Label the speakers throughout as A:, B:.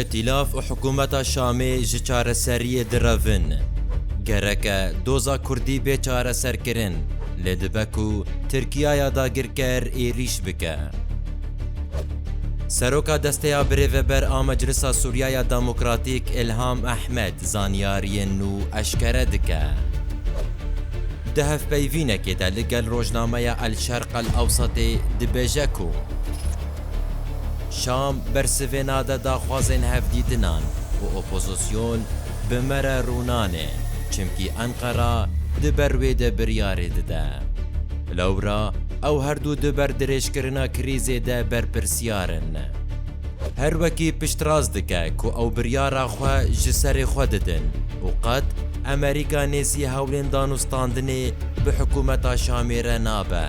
A: Îtîlaf û hikûmeta Şamê ji çareseriyê direvin. Gerek e doza Kurdî bê çareserkirin, lê dibe ku Tirkiyaya dagirker êrîş bike. Seroka Desteya Birêveber a Meclisa Sûriyaya Demokratîk Îlham Ehmed zanyariyên nû eşkere dike. Di hevpeyvînekê de li gel rojnameya El Şerq El Ewsatê dibêje ku Şam bersivê nade daxwazên hevdîtinan û opozîsyon bi me re rû nane çimkî Enqera di ber wê de biryarê dide. Lewra ew her du di ber dirêjkirina krîzê de berpirsiyar in. Her wekî piştrast dike ku ew biryara xwe ji serê xwe didin û qet Amerîka nêzî hewlên danûstandinê bi hikûmeta Şamê re nabe.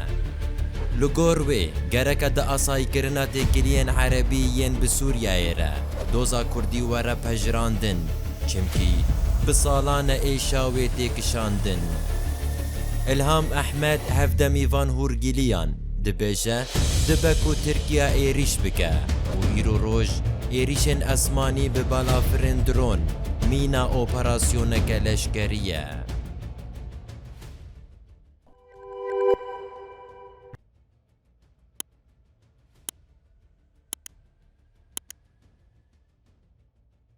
A: Li gor wê, gereke di asayîkirina têkiliyên Erebî yên bi Sûriyeyê re doza Kurdî were pejirandin, çimkî bi salan e êşa wê tê kişandin. Îlham Ehmed hevdemî van hûrgiliyan. Dibêje, dibe ku Tirkiya êrîş bike û îro roj êrîşên esmanî bi balafirên dron mîna operasyoneke leşkerî ye.